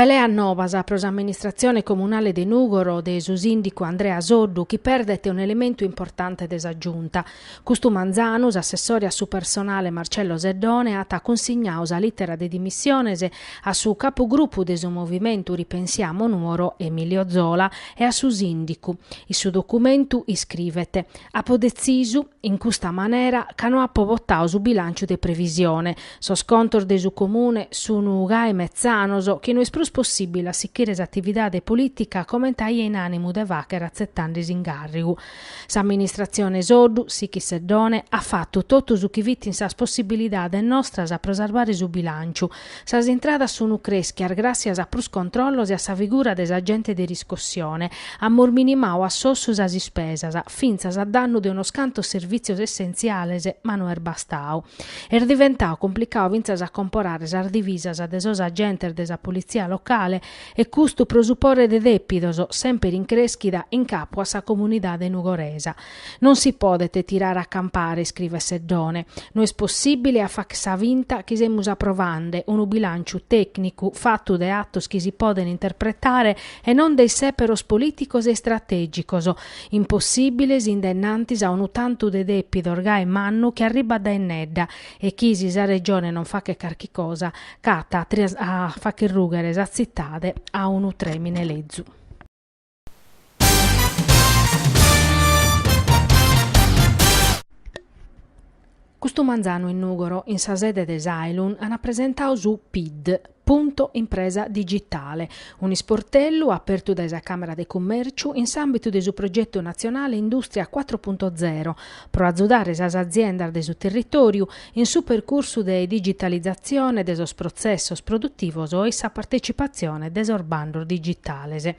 Peleas nobas pro s'amministratzione comunale de Nùgoro de su sìndicu Andrea Soddu chi perdet un'elementu importante de sa Giunta. Custu manzanu s'assessore a su personale Marcello Seddone at cunsignadu sa lìtera de dimissiones a su capugrupu de su movimentu Ripensiamo Nuoro Emilio Zola e a su sìndicu. In su documentu iscrivet, Apo detzisu, In custa manera ca no apo botadu su bilànciu de previsione. Sos contos de su Comune sunu gai metzanos, chi no est prus possìbile a sichire s'atividade polìtica comente aia in ànimu de fàghere atzetande s'ingàrrigu. S'amministratzione Soddu, sichit Seddone, at fatu totu su chi fit in sas possibilidades nostras pro sarvare su bilànciu, Sas intradas sunu crèschias gràssias a prus controllos e a sa figura de s'agente de riscossione. Amus minimadu a s'ossu sas ispesas, fintzas a dannu de unos cantos servìtzios essentziales, ma no est bastadu. Est diventadu complicadu fintzas a comporare sas divisas de sos agentes de sa politzia locale e custu pro su pore de dèpidos, semper in crèschida, in capu a sa comunidade nugoresa. Non si podet tirare a campare, iscrivet Seddone, no est possìbile a fàgher sa finta chi semus aprovande unu bilànciu tècnicu fatu de atos chi si podent interpretare e non de issèperos polìticos e istratègicos, impossìbiles in denantis a unu tantu de dèpidos gai mannu chi arribat dae innedda e chi, si sa Regione non faghet carchi cosa, c'at a fàgher rùghere sa tzitade a unu trèmine lezu. Custu manzanu in Nùgoro, in sa sede de s'Ailun, ant presentadu su Pid, Punto Impresa Digitale, un'isportellu apertu dae sa Càmera de Cummèrciu in s'àmbitu de su progetu natzionale Indùstria cuatro punto zero, pro atzudare sas aziendas de su territòriu in su percursu de digitalizatzione de sos protzessos produtivos e sa partetzipatzione de sos bandos digitales.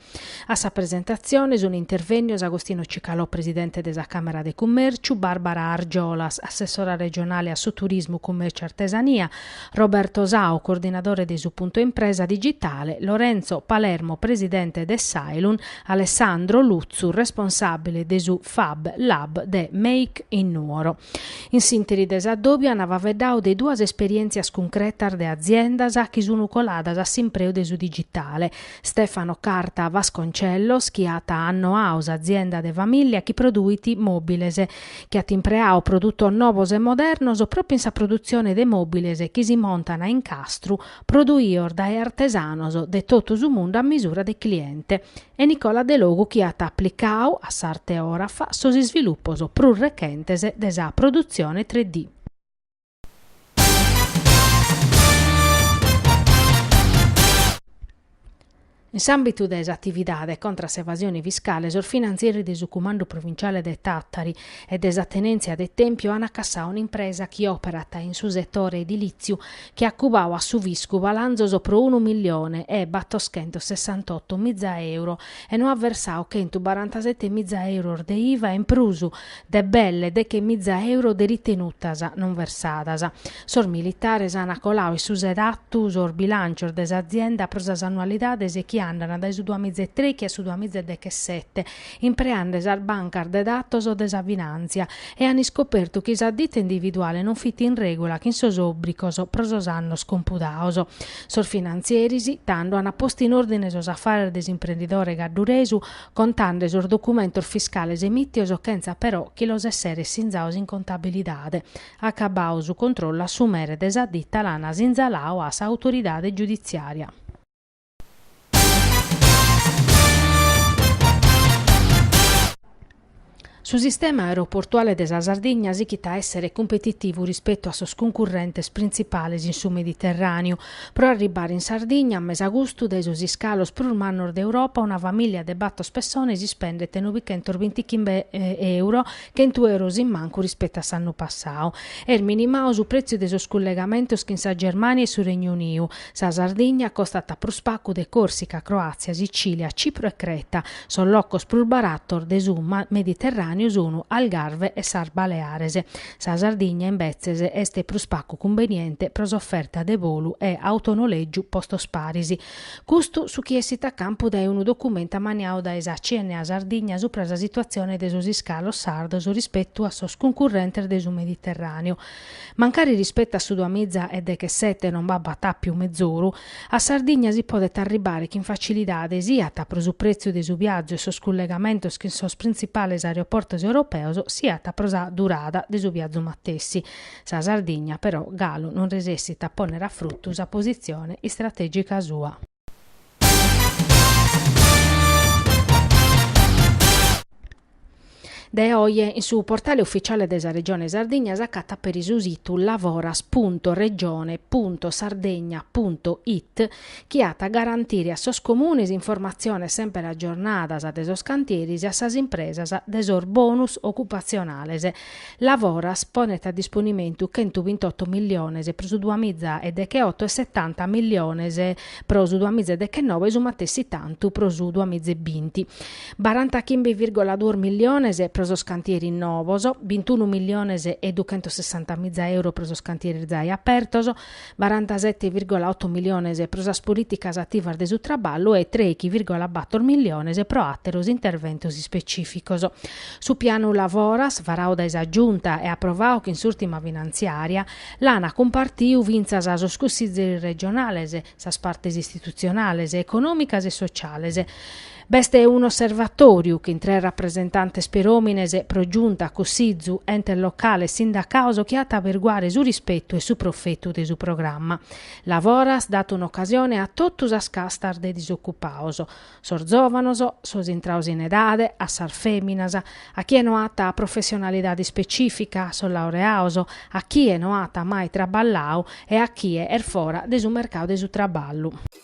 A sa presentatzione sunt intervènnios Agostino Cicalò presidente de sa Càmera de Cummèrciu, Bàrbara Argiolas, assessora regionale a su turismu, cummèrciu e artesania, Roberto Sau, coordinadore de su Punto Impresa digitale, Lorenzo Palermo presidente de s'Ailun, Alessandro Lutzu responsàbile de su Fab Lab de Make in Nuoro. In s'interi de s'adòbiu an faveddau de duas esperièntzias cuncretas de aziendas chi sunu coladas a s'impreu de su digitale, Stefano Carta Vasconcellos chi at annoau s'azienda de famìllia chi produit mòbiles, chi at impreau produtos novos e modernos pròpiu in sa produtzione de mòbiles chi si montan a incastru, produios dae artesanos de totu su mundu a misura de cliente. e Nicola Delogu chi at aplicau a s'arte òrafa sos isvilupos prus rechentes de sa produtzione tre D. In s'àmbitu de s'atividade contra a s'evasione fiscale sos finantzieri de su Cumandu Provinciale de Tàtari e de sa Tenèntzia de Tèmpiu ant cassau un'impresa chi òperat in su setore edilìtziu chi at cubau a su fiscu palanzos pro unu millione e battoschentos sessantaotto miza euro e no at versau chentu barantasette miza euros de iva e in prus de belle deche miza euro de ritenutas non versadas. Sos militares ana colau in su sedatu sos bilancios de s'azienda pro sas annualidades chi andana dae su duamiza e trèichi a su duamiza e dechesette, impreande sas bancas de datos de sa finàntzia e an iscopertu chi sa ditta individuale non fit in règula chin sos òbrigos pro sos annos compudaos. Sos finantzieris, tando, an postu in òrdine sos afares de s'imprendidore gadduresu, contande sos documentos fiscales emìtios chentza però chi los esseret sinzaos in contabilidade. Acabbau su controllu a su mere de sa ditta l'an sinzalau a sa autoridade giuditziària. Su sistema aeroportuale de sa Sardigna sighit a èssere cumpetitivu rispetu a sos cuncurrentes printzipales in su Mediterràneu pro arribbare in Sardigna a mesagustu dae sos iscalos prus mannos d'Europa una famìllia de bator pessones ispendet nobichentos bintichimbe euro chentu euros in mancu rispetu a s'annu passadu est minimau su prètziu de sos cullegamentos chin sa Germània e su Regnu Uniu Sa Sardigna costat prus pagu de Còrsica, Croàtzia, Sicìlia, Cipro e Creta. Sos locos prus baratos de su Mediterràneu sun Algarve e sas Baleares. Sa Sardigna, imbetzes, est prus pagu cumbeniente pro s'oferta de bolu e autonoleggiu postos paris. Custu su chi essit a campu dae unu documentu ammaniau dae sa CNA Sardigna subra sa situatzione de sos iscalos sardos rispetu a sos cuncurrentes de su Mediterràneu, Mancari rispettu a su duamiza e dechesette non b'apat àpiu mezoru, a Sardigna si podet arribbare chin facilidade siat pro su pretziu de su biazu e sos cullegamentos chin sos printzipales aeroportos europeos siat pro sa durada de su biazu matessi. Sa Sardigna, però, galu non resessit a pònnere a frutu sa positzione istrategica sua. Dae oje in su portale ufficiale de sa Regione Sardigna s'acatat peri su situ lavoras.regione.sardegna.it chi at a garantire a sos comunes informatziones semper aggiornadas de sos cantieres e a sas impresas de sos bonus ocupatzionales Lavoras ponet a disponimentu chentu bintotto milliones pro su duamiza e degheotto e setanta milliones pro su duamiza e deghenoe e su matessi tantu pro su duamiza e binti. Barantachimbe virgola duos milliones pro sos cantieris nobos, bintunu milliones e duchentossessantamiza euros pro sos cantieris zai apertos, barantaseti virgola otu miliones pro sas polìticas ativas de su traballu e trèighi virgola bator miliones pro àteros interventos ispecìficos. Su pianu lavoras, varadu dae sa Giunta e aprovadu chin s'ùrtima finantziària, l'ant cumpartidu fintzas sos cussizeris regionales, sas partes istitutzionales, econòmicas e sociales, B'est unu osservatòriu chin tres rapresentantes peròmine pro giunta, cussizu, entes locales, sindacados chi at a aberguare su rispetu e su profetu de su programma. Lavoras dat un'ocasione a totu sas castas de disocupados, sos zòvanos, sos intrados in edade, a sas fèminas, a chie no at professionalidade ispecìfica, a sos laureados, a chie no at mai traballadu e a chie est fora de su mercadu de su traballu.